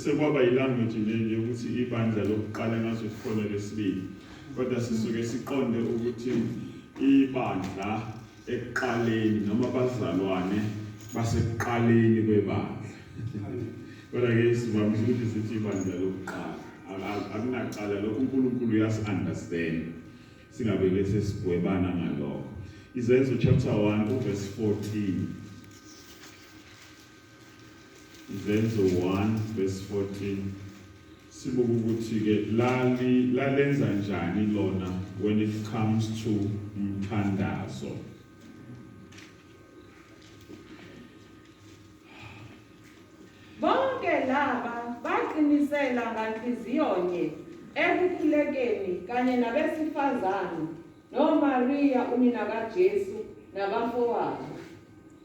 Sekwaba ilanguage leli ukuthi ibandla lokuqala ngaso sikhona lesibili. Kodwa sisuke siqonde ukuthi ibandla ekuqaleni noma abazalwane basekuqaleni kwebandla. Kodwa ke sivamise ukuthi sithi ibandla lokuqala. Akunaqala lokho uNkulunkulu uyasi-understand. Singabe ke sesigwebana ngalokho. Izenzo chapter 1 verse 14. Izenzo 1 verse 14 sibuka ukuthi ke lali lalenza njani lona when it comes to umthandazo bonke laba baqinisela nganhliziyonye ekukhulekeni kanye nabesifazane noMaria unina kaJesu nabafowabo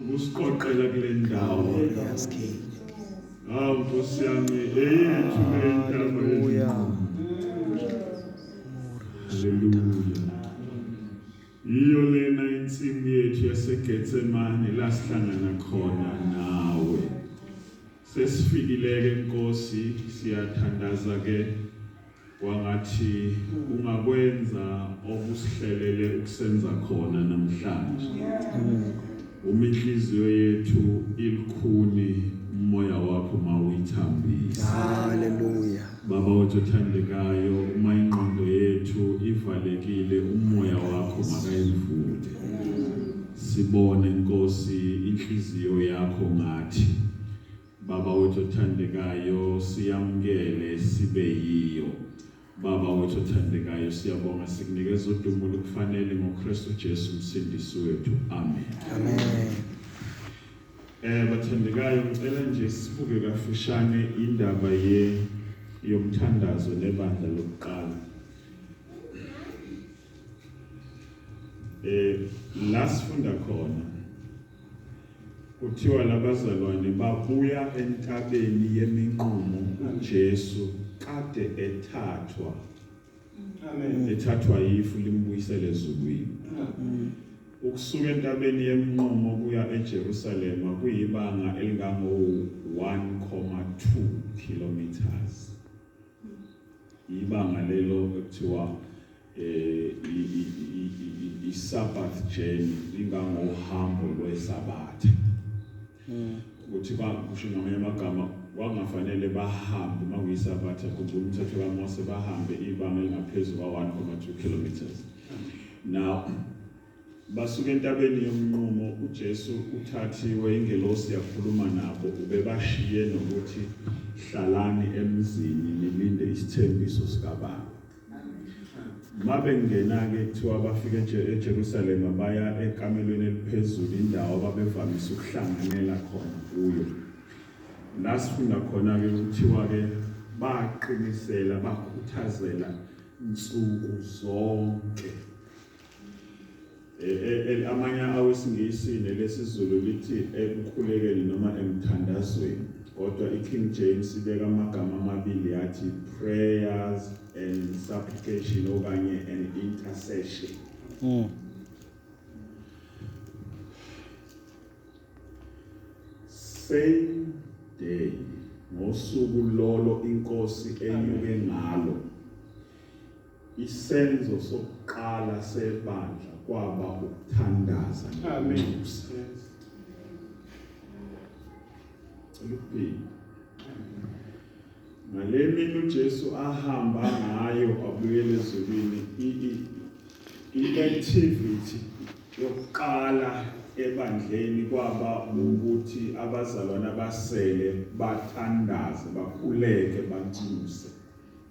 ukusiqoqela kule ndawo hawu nkosi yami eyethu lentaba haleluya yiyo lena insimu yethu yasegetsemane lasihlangana khona nawe Sesifikileke Nkosi siyathandaza ke kwangathi ungakwenza okusihlelele ukusenza khona namhlanje uma inhliziyo yethu ilikhuni umoya wakho mawuyithambisa haleluya baba wethu othandekayo uma ingqondo yethu ivalekile umoya wakho makayivule Sibone Nkosi inhliziyo yakho ngathi. Baba wethu othandekayo siyamukele sibe yiyo. Baba wethu othandekayo siyabonga sikunikeza udumo lokufanele ngoKristu Jesu umsindisi wethu. Amen. Amen. Eh bathandekayo ngicela nje sibuke kafushane indaba ye yomthandazo nebandla lokuqala. eh la sifunda khona kuthiwa labazalwane babuya entabeni yeminqumo uJesu kade ethathwa amen ethathwa yifu limbuyisele ezulwini ukusuka entabeni yeminqumo kuya eJerusalem kuyibanga elingango 1,2 kilometers ibanga lelo ekuthiwa eh, i-sabbath journey ingangohambo lwesabatha hmm. ukuthi bakusho ngamanye amagama kwakungafanele bahambe uma kuyisabatha khumbula umthetho kamose bahambe ibanga elingaphezu kwa-1 kilometers now Basuka entabeni yomnqumo, uJesu uthathiwe, ingelosi yakhuluma nabo, ubebashiye nokuthi hlalani emzini nilinde isithembiso sikaBaba. Uma bengena-ke kuthiwa bafika eJe- eJerusalema baya ekamelweni eliphezulu, indawo ababevamise ukuhlanganela khona kuyo. La sifunda khona-ke kuthiwa-ke baqinisela, bakhuthazela nsuku zonke amanye awesingisi nelesizulu lithi ekukhulekeni noma emthandazweni kodwa i-king james ibeka amagama amabili yathi prayers and supplication okanye an intercession mm. same day ngosuku lolo inkosi enyuke ngalo Isenzo sokuqala sebandla kwaba ukuthandaza. Amen. Luphinde. Ngale mini uJesu ahamba ngayo abuyele ezulwini i-activity yokuqala ebandleni kwaba ukuthi abazalwane abasele bathandaze bakhuleke banthuse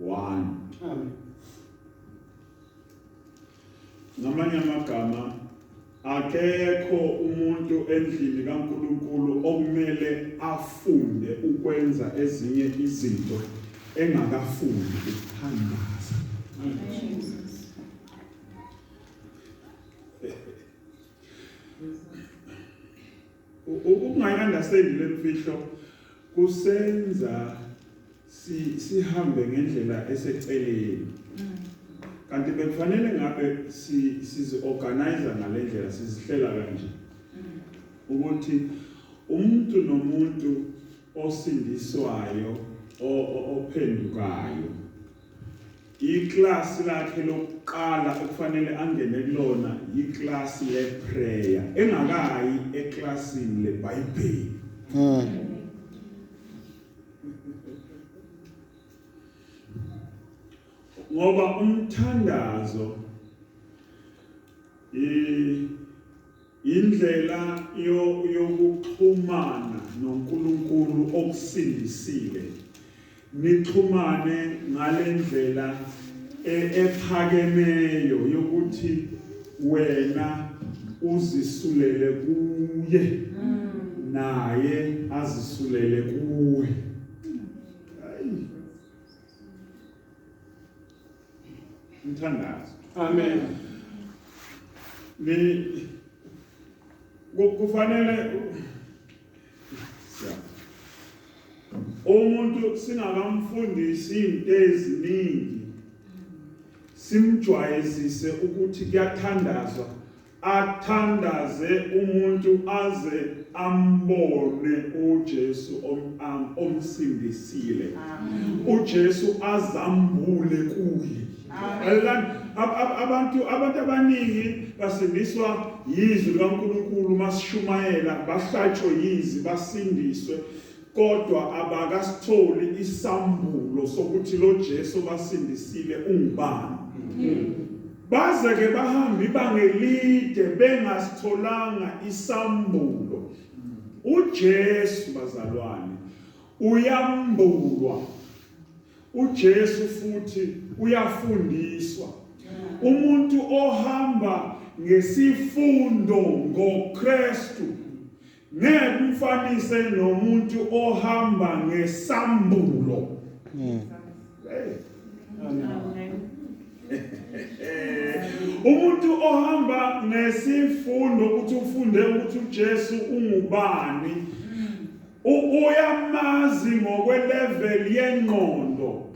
1 amen ngamanye amagama akekho umuntu endlini kaNkuluNkulu okumele afunde ukwenza ezinye izinto engakafundi ukuthandaza Ukungayiandasendi le mfihlo kusenza sihambe ngendlela eseceleni mm. kanti bekufanele ngabe sizi-organize ngale ndlela sizihlela kanje mm. ukuthi umuntu nomuntu osindiswayo ophendukayo Iklasi lakhe lokuqala okufanele angene kulona yiklasi leprayer engakayi eklasini leBhayibheli. Hmm. Ngoba umthandazo i Yindlela yo, yokuxhumana noNkulunkulu okusindisile. Nixhumane ngale ndlela e, ephakemeyo yokuthi wena uzisulele kuye naye azisulele kuwe. Mthandazo. Amen. Ni kufanele umuntu singakamfundisi into eziningi simjwayezise ukuthi kuyathandazwa athandaze umuntu aze ambone uJesu omsindisile uJesu azambule kuye abantu abantu abaningi basindiswa yizwi likaNkulunkulu masishumayela bahlatshwe yizi basindiswe Kodwa abakasitholi isambulo sokuthi lo Jesu basindisile ungubani. Baze ke bahamba ibanga elide bengasitholanga isambulo. UJesu bazalwane uyambulwa. UJesu futhi uyafundiswa. Umuntu ohamba ngesifundo ngoKristu Ngeke umfanise nomuntu ohamba ngesambulo. Mm. Hey. umuntu ohamba ngesifundo ukuthi ufunde ukuthi uJesu ungubani uyamazi ngokwelevel yengqondo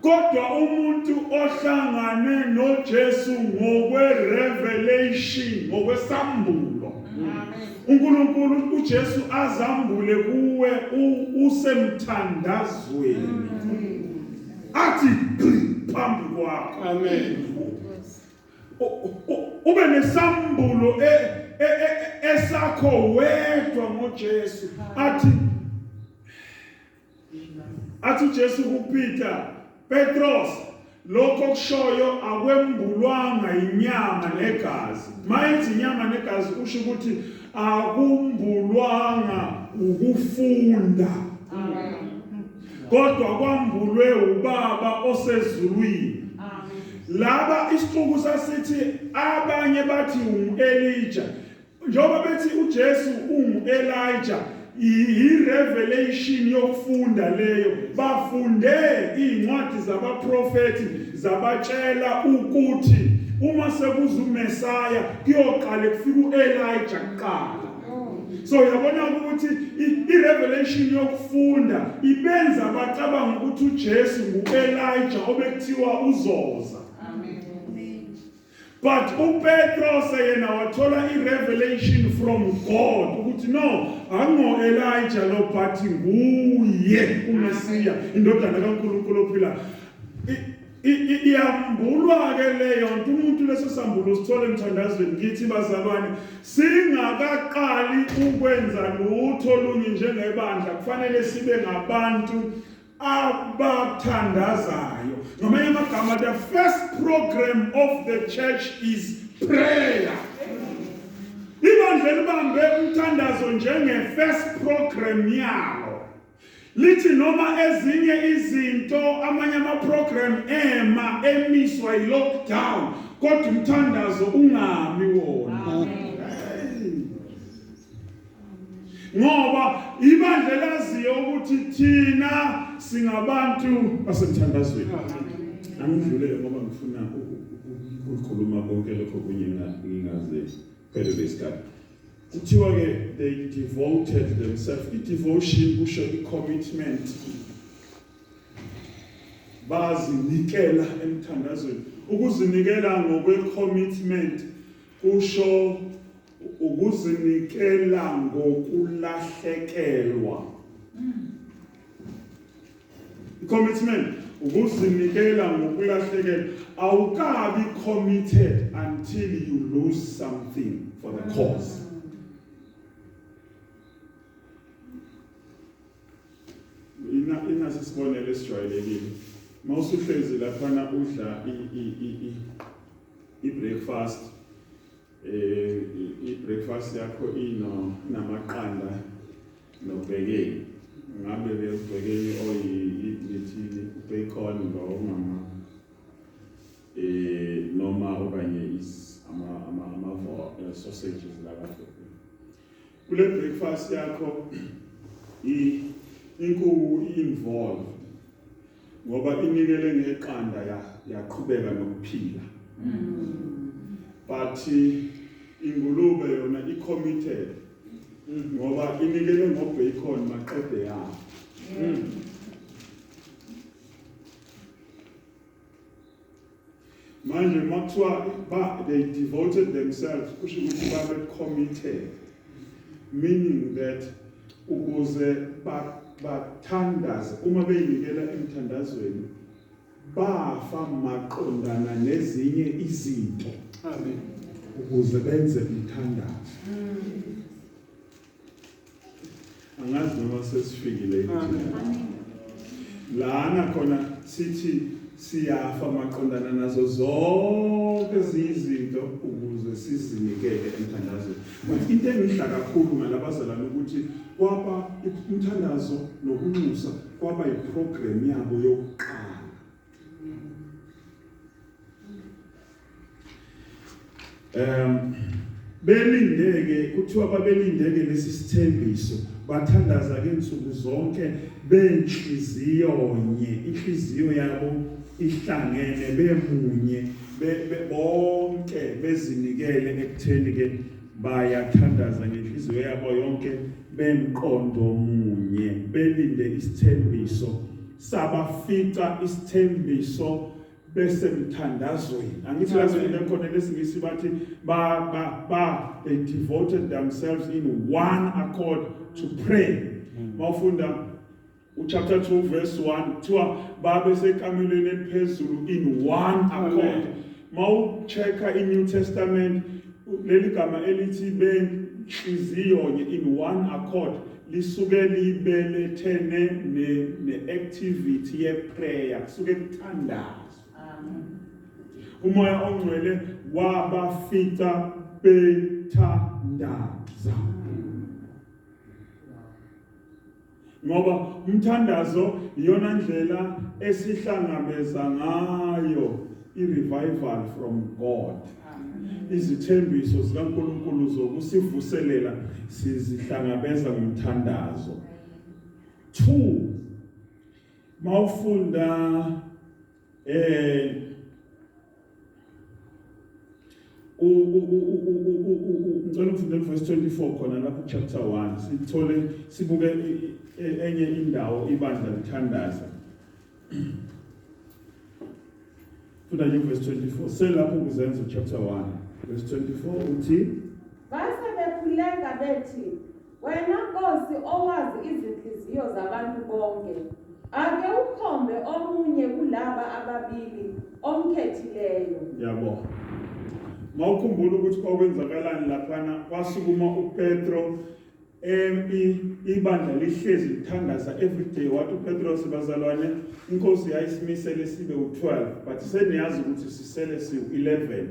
kodwa umuntu ohlangane noJesu ngokwerevelation ngokwesambulo uNkulunkulu uJesu azambule kuwe usemthandazweni athi phambi kwakho amen ube nesambulo e, e, e, esakho wedwa ngoJesu athi athi uJesu kuPeter Petros lokho kushoyo akwembulwanga inyama negazi mayethi inyama negazi usho ukuthi akumbulwanga ukufunda kodwa kwambulwe ubaba osezulwini laba isixuku sasithi abanye bathi u-elija Njengoba bethi uJesu ungu-Elija, yirevelation yokufunda leyo. Bafunde iy'ncwadi zabaprofethi zabatshela ukuthi uma sekuza uMesaya kuyoqale kufika u-Elija kuqala. So yabona ukuthi irevelation yokufunda ibenza bacabanga ukuthi uJesu ngu-Elija obekuthiwa uzoza. but uPetros yena wathola irevelation from God ukuthi no ango Elijah lo but nguye uMesiya indodana kaNkulunkulu ophila iyambulwa ke leyo nto umuntu leso sambulo sithole emthandazweni ngithi bazalwane singakaqali ukwenza lutho lunye njengebandla kufanele sibe ngabantu abathandazayo ngamanye amagama the first program of the church is prayer ibandla elibambe umthandazo njenge-first program yalo lithi noma ezinye izinto amanye amaprogram ema emiswa yi-lockdown kodwa umthandazo ungami wona ngoba ibandla laziyo ukuthi thina singabantu basemthandazweni angidlulele ngoba ngifuna ukukhuluma konke lokho kunye ngingaze phelele isikhathi kuthiwa ke they devoted themselves i-devotion kusho i-commitment bazinikela emthandazweni ukuzinikela ngokwe-commitment kusho Ukuzinikela ngokulahlekelwa. Commitment ukuzinikela ngokulahlekelwa awukabi committed until you lose something for the cause. Ina inasi sibonele esijwayelekile. Mawusuhlezi lapha na udla i i i i breakfast Eh i-breakfast yakho ino namaqanda nobhekeni. Ngabe beyobhekeni oyithini bacon lo mama. Eh noma okanye is ama ama ama eh, sausages la kahle. kule breakfast yakho inkuku involved ngoba inikele ngeqanda yaqhubeka nokuphila mm. but ingulube yona i-committed ngoba inikele ngobacon maqede yayo mm. manje uma kuthiwa ba they devoted themselves kusho ukuthi babe committed meaning that ukuze bathandaze uma beyinikela emthandazweni bafa maqondana nezinye izinto amen ukuze benze umthandazo mm. angazi noma sesifikile lana khona sithi siyafa maqondana nazo zonke izinto ukuze sizinikele emthandazweni but into engidla kakhulu ngalabazalana ukuthi kwaba umthandazo nokunxusa kwaba yiprogram yabo yokuqala um belindeke kuthiwa babelindeke lesi sithembiso bathandaza ke insuku zonke benhliziyo nye inhliziyo yabo ihlangene bemunye bonke bezinikele ekutheni ke bayathandaza ngenhliziyo yabo yonke bemqondo munye belinde isithembiso sabafica isithembiso besemthandazweni angithi lazweni ekhona lesingisi bathi ba ba ba they devoted themselves in one accord to pray hmm. mawufunda uchapter 2 verse 1 kuthiwa babe sekamelweni eliphezulu in one accord mawuchecka inew testament leli gama elithi benhliziyonye in one accord lisuke libelethene ne-activity yeprayer kusuke kuthandazo umoya ongcwele wabafica bethandaza ngoba umthandazo iyona ndlela esihlangabeza ngayo i-revival from God izithembiso zikaNkulunkulu zokusivuselela sizihlangabeza ngomthandazo 2 mawufunda eh ngicela ufunde verse 24 khona lapho chapter 1 sithole sibuke e, e, enye indawo ibandla lithandaza Funda nje verse 24. Selapho kuzenza chapter 1 verse 24 uthi Base bekhuleka bethi wena Nkosi owazi izinhliziyo zabantu bonke ake ukhombe omunye kulaba ababili omkhethileyo. Yabo. Mawukhumbula ukuthi kwakwenzakalani laphana kwasukuma uPetro Empi ibandla lihlezi lithandaza every day wathi uPetros bazalwane inkosi yayisimisele sibe u12 but seniyazi ukuthi sisele siwu11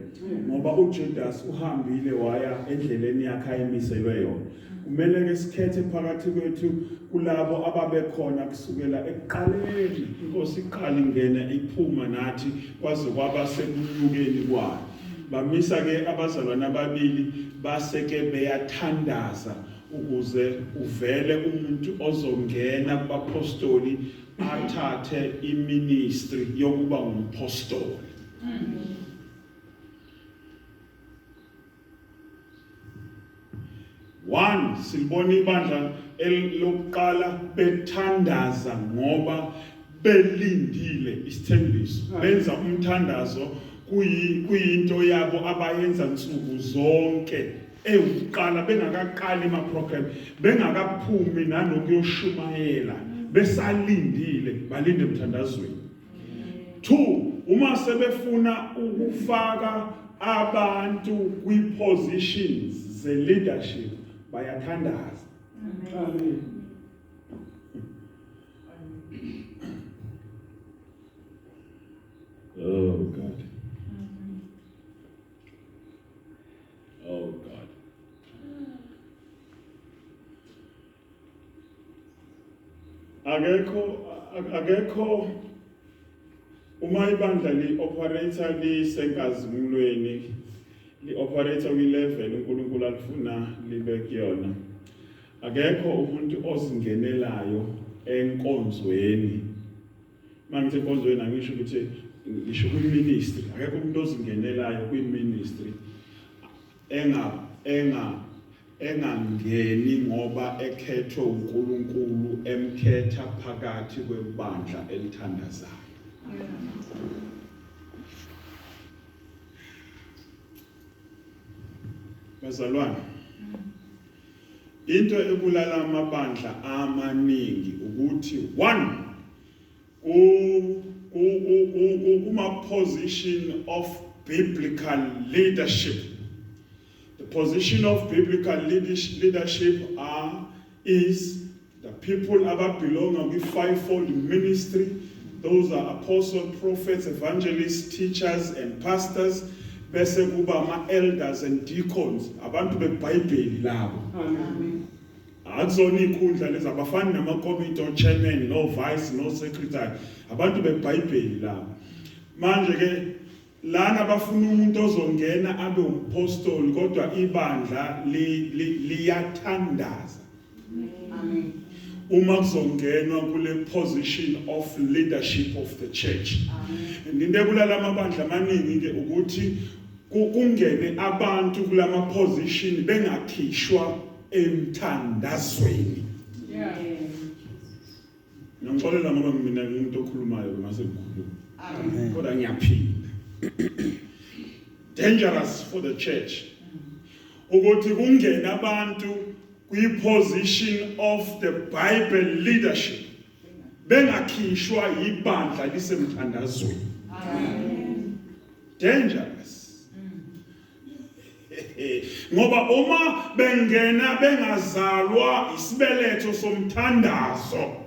ngoba uJudas uhambile waya endleleni yakhe ayimiselwe yona kumele ke sikhethe phakathi kwethu kulabo ababekhona kusukela ekuqaleni inkosi iqala ingena iphuma nathi kwaze kwaba sekunyukeni kwayo Bamisa ke abazalwane ababili base ke beyathandaza ukuze uvele umuntu ozongena kubapostoli athathe iministry yokuba umpostoli. Mm. 1 silibona ibandla elokuqala bethandaza ngoba belindile isithembiso ah. benza umthandazo kuyinto yabo abayenza nsuku zonke ewuqala bengakaqali ama program bengakaphumi nanokuyoshumayela besalindile balinde emthandazweni two uma sebefuna ukufaka abantu kwi-positions ze-leadership bayathandaza Oh God. Oh God. akekho akekho uma ibandla li-operator lisenkazimulweni li-operator kwi-level unkulunkulu alifuna libe kuyona akekho umuntu ozingenelayo enkonzweni uma ngithi enkonzweni angisho ukuthi ngisho kwiministry akekho umuntu ozingenelayo kwiministry enga enga engangeni ngoba ekhethwe uNkulunkulu emkhetha phakathi kwebandla elithandazayo Bazalwane into ebulala amabandla amaningi ukuthi one kuma position of biblical leadership The position of biblical leadership are is the people ababelonga kwi-fivefold ministry those are apostle prophets evangelists teachers and pastors bese kuba ama-elders and deacons abantu bebhayibheli labo akuzona iy'khundla lezi abafani namakomiti o-chairman no-vice no-secretary abantu bebhayibheli labo manje-ke Lana bafuna umuntu ozongena abe umpostoli kodwa ibandla liyathandaza. Amen. Uma kuzongenwa kule position of leadership of the church. Amen. Into ebulala amabandla amaningi ke ukuthi kungene abantu kulama position bengakhishwa emthandazweni. Yeah. Ngixolela ngoba mina ngimuntu okhulumayo mase ngikhuluma. Amen. Kodwa ngiyaphinda. Dangerous for the church. Ukuthi kungena abantu kwi position of the Bible leadership bengakhishwa yibandla lisemthandazweni. Amen. Dangerous. ngoba uma bengena bengazalwa isibeletho somthandazo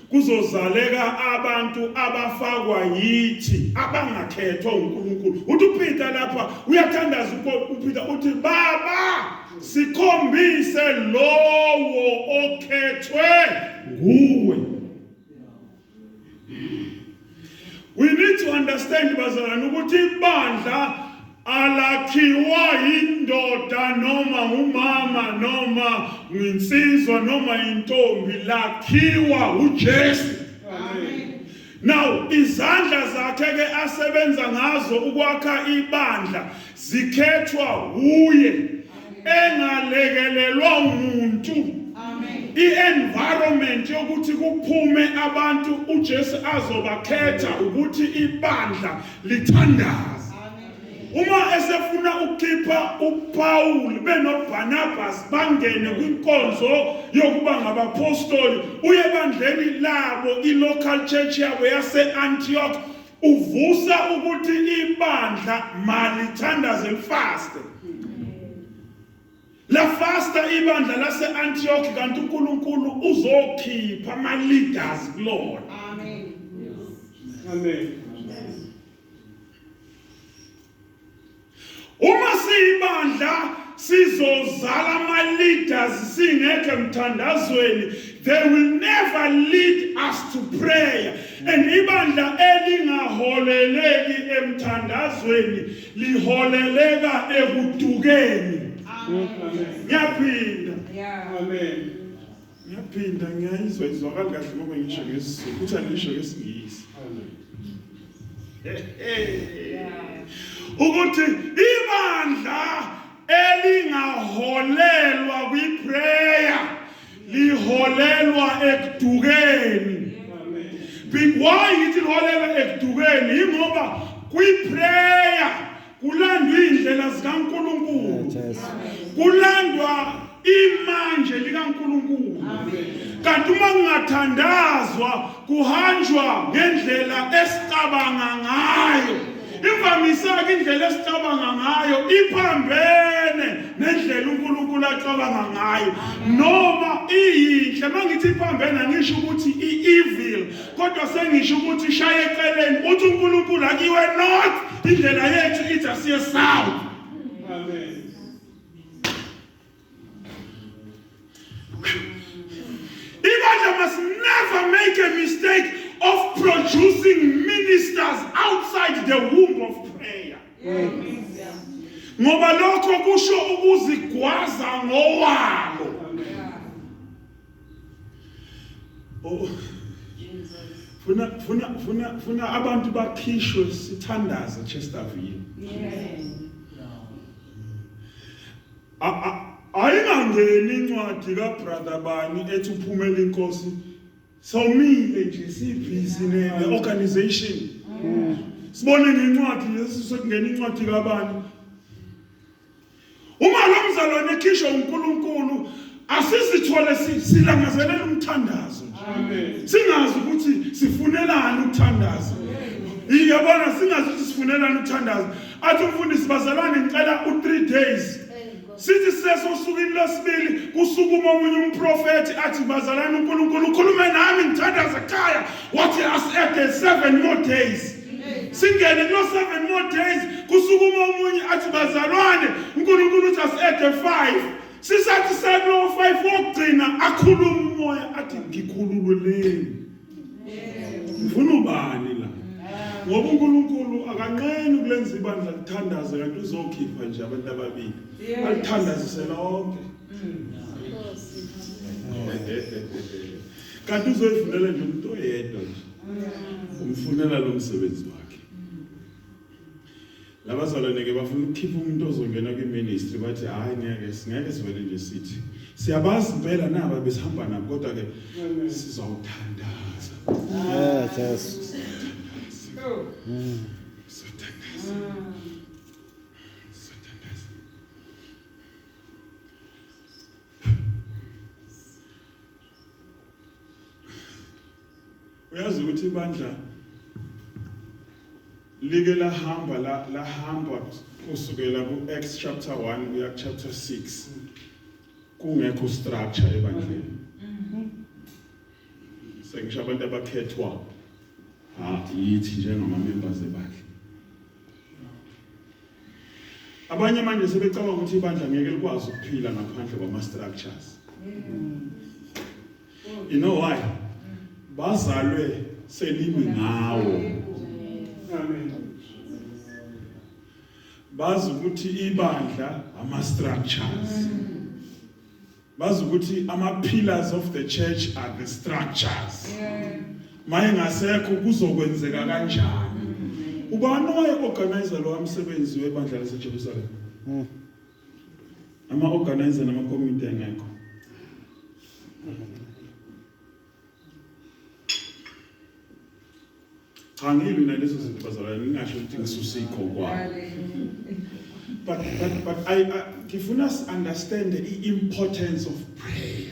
kuzozaleka abantu abafakwa yithi abangakhethwa uNkulunkulu uthi uPeter lapha uyathandaza uPeter uthi baba sikhombise lowo okhethwe nguwe We need to understand bazalwane ukuthi ibandla alakhiwa yindoda noma umama noma nginsizwa noma intombi lakhiwa uJesu Now izandla zakhe ke asebenza ngazo ukwakha ibandla zikhethwa wuye engalekelelwa umuntu i-environment yokuthi kuphume abantu uJesu azobakhetha ukuthi ibandla lithandaze uma esefuna ukukhipha uPaul benoBarnabas bangene kwinkonzo yokuba ngabapostoli uye bandleni labo ilocal church yabo yaseAntioch uvusa ukuthi ibandla malithandaze lifaste lafasta ibandla lase-antioch kanti unkulunkulu uzokhipha ama-leaders kulona amen amen Uma siyibandla sizozala ama leaders singekho emthandazweni they will never lead us to prayer and ibandla elingaholeleki emthandazweni liholeleka ekudukeni ngiyaphinda amen ngiyaphinda ngiyayizwa izwakali kahle ngoba ngisho ngesizulu futhi angisho ngesingisi ukuthi ibandla elingaholelwa kwiprayer liholelwa ekudukeni why yithi liholelwa ekudukeni yingoba kwiprayer kulandwa indlela zikaNkuluNkulu kulandwa imanje likaNkuluNkulu kanti uma kungathandazwa kuhanjwa ngendlela esicabanga ngayo imvamisaka indlela esicabanga ngayo iphambene nendlela uNkulunkulu acabanga ngayo noma iyinhle mangithi iphambene angisho ukuthi ievil kodwa sengisho ukuthi shaye eceleni uthi uNkulunkulu akiwe not indlela yethu ithi asiye south amen Elijah must never make a mistake of producing ministers outside the womb of prayer. Ngoba lokho kusho ukuzigwaza ngowalo. Oh. Funa funa funa funa abantu bakhishwe sithandaze Chesterville. Yes. Ayingangeni incwadi ka brother bani ethi uphumela inkosi somile nje sibhizi ne organization. Sibone ngencwadi lesi sekungena incwadi kabani Uma lo mzalwane ekhishwa uNkulunkulu asizithole silangazelela umthandazo nje. Singazi ukuthi sifunelani ukuthandaza. Iyabona singazi ukuthi sifunelani ukuthandaza. Athi umfundisi bazalwane ngicela u3 days sithi seso usukwini lwesibili kusukuma omunye umprofethi athi bazalana uNkulunkulu ukhulume nami ngithandaza ekhaya wathi as at the seven more days singene kulo seven more days kusukuma omunye athi bazalwane unkulunkulu uthi asiede five sisathi sekulowo five wokugcina akhulume umoya athi ngikhulululeni ngifuna ubani la ngoba unkulunkulu akanqeni ukulenza ibandla lithandaze kanti uzokhipha nje abantu ababili alithandazise lonke kanti uzoyivunela nje umuntu oyedwa nje umfunela lo msebenzi wakhe labazalwane ke bafuna ukukhipha umuntu ozongena kwiministry bathi hayi ngeke singeke sivele nje sithi siyabazi impela naba besihamba nabo kodwa ke sizawuthandaza yes yes uyazi ukuthi ibandla like lahamba lahamba kusukela ku-acts chapter 1 kuya chapter 6 kungekho structure ebandleni sengisho abantu abakhethwa yithi njengamamembers ebandla abanye manje sebecabanga ukuthi ibandla ngeke likwazi ukuphila ngaphandle kwama-structures you know why bazalwe selimi ngawo amen bazi ukuthi ibandla ama structures bazi ukuthi ama pillars of the church are the structures maye ngasekho kuzokwenzeka kanjani ubani owaye organizer lo msebenzi webandla laseJerusalem hmm. ama organizer nama committee engekho cha ngilwi nalezo zinto bazalwane ngingasho ukuthi ngisusikho kwabo but but but i ngifuna us understand the importance of prayer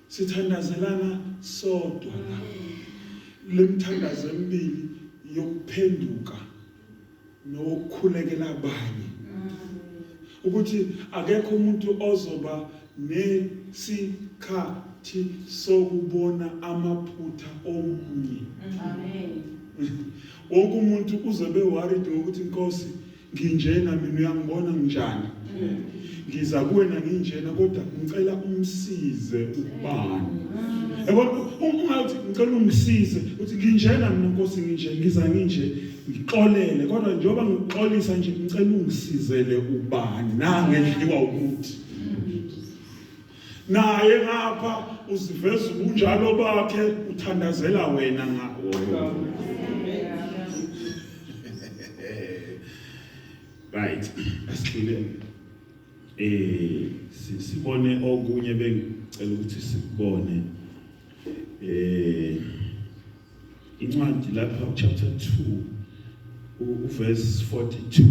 sithandazelana sodwa la lemthandazo emibili yokuphenduka nokukhulekela abanye ukuthi akekho umuntu ozoba nesikhathi sokubona amaphutha omunye amen wonke umuntu uzobe worried ngokuthi inkosi nginjena mina uyangibona nginjani ngiza kuwena nginjena kodwa ngicela umsize ubani yabona ungathi ngicela ungisize uthi nginjena mina nkosi nginje ngiza nginje ngixolele kodwa njengoba ngixolisa nje ngicela ungisizele ubani nangendliwa ukuthi naye ngapha uziveza ubunjalo bakhe uthandazela wena ngakho right asigcine eh sibone okunye bengicela ukuthi sikubone eh incwadi lapha chapter 2 uverse 42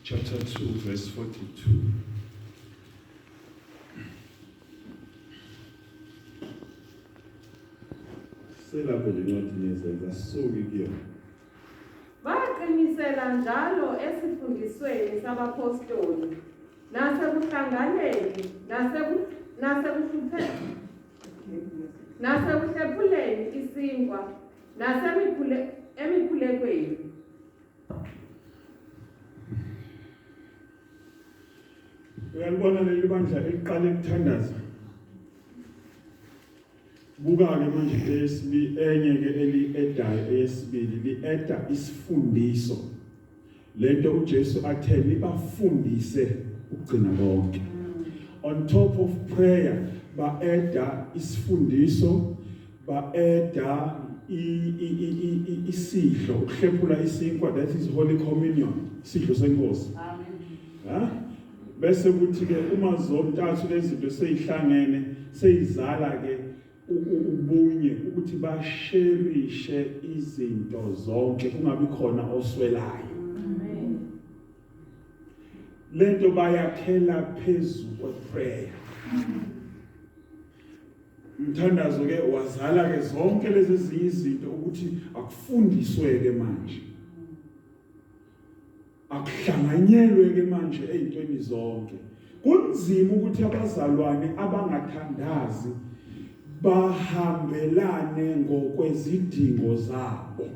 chapter 2 verse 42 selapho le ncwadi nezenza suki kuyona baqinisela njalo esifundisweni sabapostoli nasekuhlanganeni naseku- nasekuhlupheni nasekuhlephuleni isinkwa nasemikhule- emikhulekweni uyalibona leli bandla eliqala ukuthandaza buka-ke manje eyesibi enye-ke eli-edayo eyesibili li-eda isifundiso le nto ujesu athe nibafundise ukugcina konke on top of prayer ba-eda isifundiso ba-eda isidlo ukuhlephula isinkwa that is holy communion isidlo senkosi ha bese kuthi ke uma zontathu lezinto seyihlangene seyizala ke ubunye ukuthi basherishe izinto zonke kungabi khona oswelayo lento bayakhela phezulu kweprayer umthandazo ke wazala ke zonke lezi zinye izinto ukuthi akufundiswe ke manje akuhlanganyelwe ke manje ezintweni zonke kunzima ukuthi abazalwane abangathandazi bahambelane ngokwezidingo zabo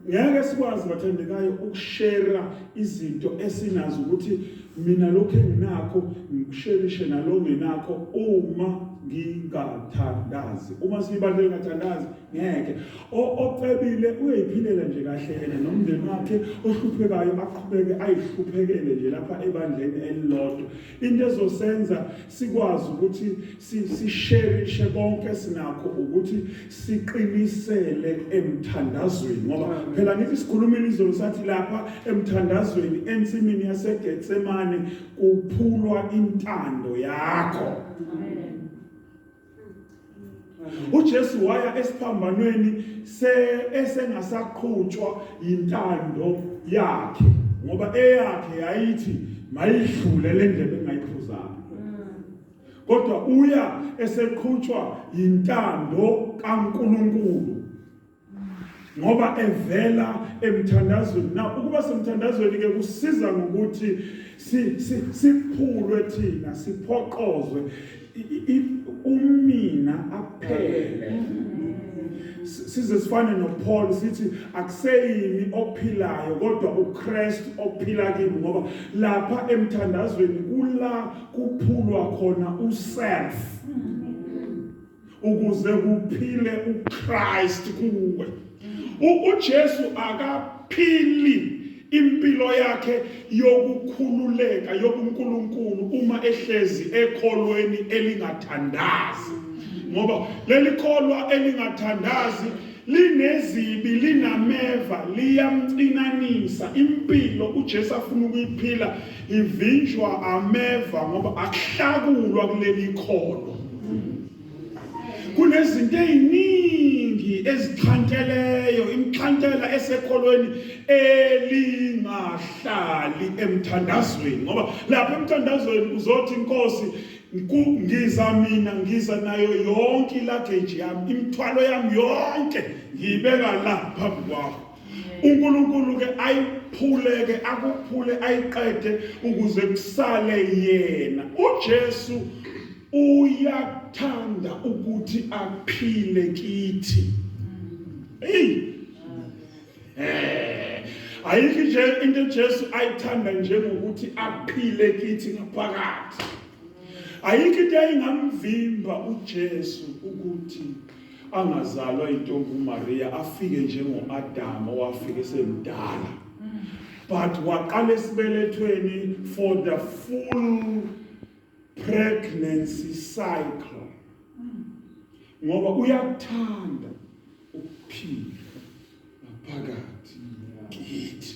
ngeke sikwazi bathandekayo ukushera izinto esinazo ukuthi mina lokho enginakho ngikusherishe nalo ngenakho uma ngingathandazi uma siyibandla ngingathandazi ngeke ocebile uyayiphilela nje kahle yena nomndeni wakhe ohluphekayo aqhubeke ayihluphekele nje lapha ebandleni elilodwa into ezosenza sikwazi ukuthi sisherishe konke sinakho ukuthi siqinisele emthandazweni ngoba phela ngithi sikhulumile izolo sathi lapha emthandazweni ensimini yaseGetsemane kuphulwa intando yakho uJesu waya esiphambanweni esengasaqhutshwa yintando yakhe ngoba eyakhe yayithi mayidlule le ndebe engayiphuzanga kodwa uya eseqhutshwa yintando kaNkuluNkulu ngoba evela emthandazweni na ukuba semthandazweni ke kusiza ngokuthi siphulwe thina siphoqozwe umina aphele size sifane noPaul sithi akuseyimi ophilayo kodwa uKristu ophila kimi ngoba lapha emthandazweni kula kuphulwa khona uself ukuze kuphile uKristu kuwe uJesu akaphili impilo yakhe yokukhululeka yobunkulunkulu uma ehlezi ekholweni elingathandazi ngoba leli kholwa elingathandazi linezibi linameva liyamcinanisa impilo uJesu afuna ukuyiphila ivinjwa ameva ngoba akuhlakulwa kuleli kholo kunezinto eziningi ezixhanteleyo imxhantela esekholweni elingahlali emthandazweni ngoba lapha emthandazweni uzothi inkosi ngiza mina ngiza nayo yonke ilageji yami imithwalo yami yonke ngiyibeka la phambi kwakho uNkulunkulu ke ayiphule ke akuphule ayiqede ukuze kusale yena uJesu uyathanda ukuthi aphile kithi hey eh ayikho nje into Jesu ayithanda nje ngokuthi aphile kithi ngaphakathi ayikho into ayingamvimba uJesu ukuthi angazalwa intombi uMaria afike njengoAdam owafika esemdala but waqala esibelethweni for the full pregnancy cycle ngoba uyakuthanda ukuphila ngaphakathi kithi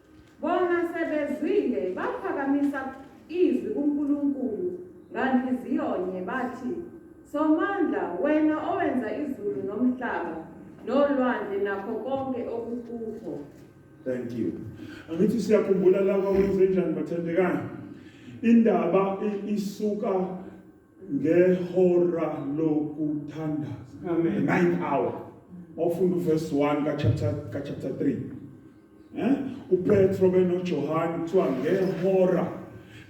Bona sebezwile baphakamisa izwi kuNkulunkulu nganhliziyonye bathi, Somandla, wena owenza izulu nomhlaba nolwandle nakho konke okukukho. Thank you. Angithi siyakhumbula la kwakwenze njani bathandekani. Indaba i- isuka ngehora lokuthandaza. Amen. Ninth hour. Mawufunda uverse 1 ka chapter ka chapter 3. Eh? UPetro benoJohane kuthiwa ngehora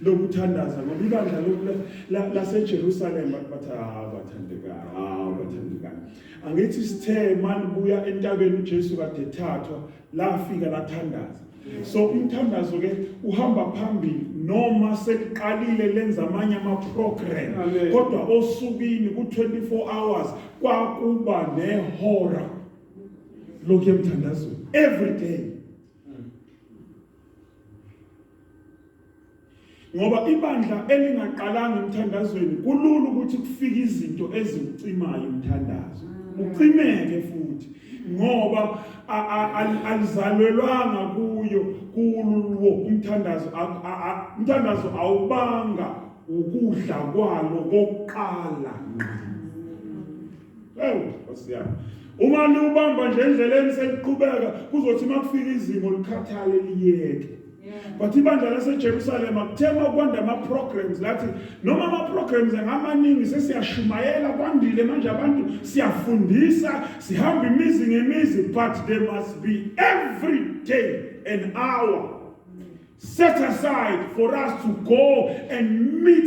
lokuthandaza ngoba ibandla laseJerusalem bathi hawu bathandekayo hawu bathandekayo angithi sithe mani buya entabeni uJesu kade ethathwa lafika lathandaza so umthandazo ke uhamba phambili noma sekuqalile lenza amanye ama-program kodwa osukwini ku-24 hours kwakuba nehora lokhu emthandazweni every day ngoba ibandla elingaqalanga emthandazweni kulula ukuthi kufike izinto ezikucimayo umthandazo ucimeke futhi ngoba alizalelwanga kuyo kululwo umthandazo umthandazo awubanga ukudla kwalo kokuqala ngqa ewu nkosi yami uma niwubamba nje endleleni seniqhubeka kuzothi uma kufika izimo likhathale liyeke but ibandla lasejerusalema kuthema kwanda ama-programs lathi noma ama-programs angamaningi sesiyashumayela kwandile manje abantu siyafundisa sihamba imizi ngemizi but there must be every day an hour set aside for us to go and meet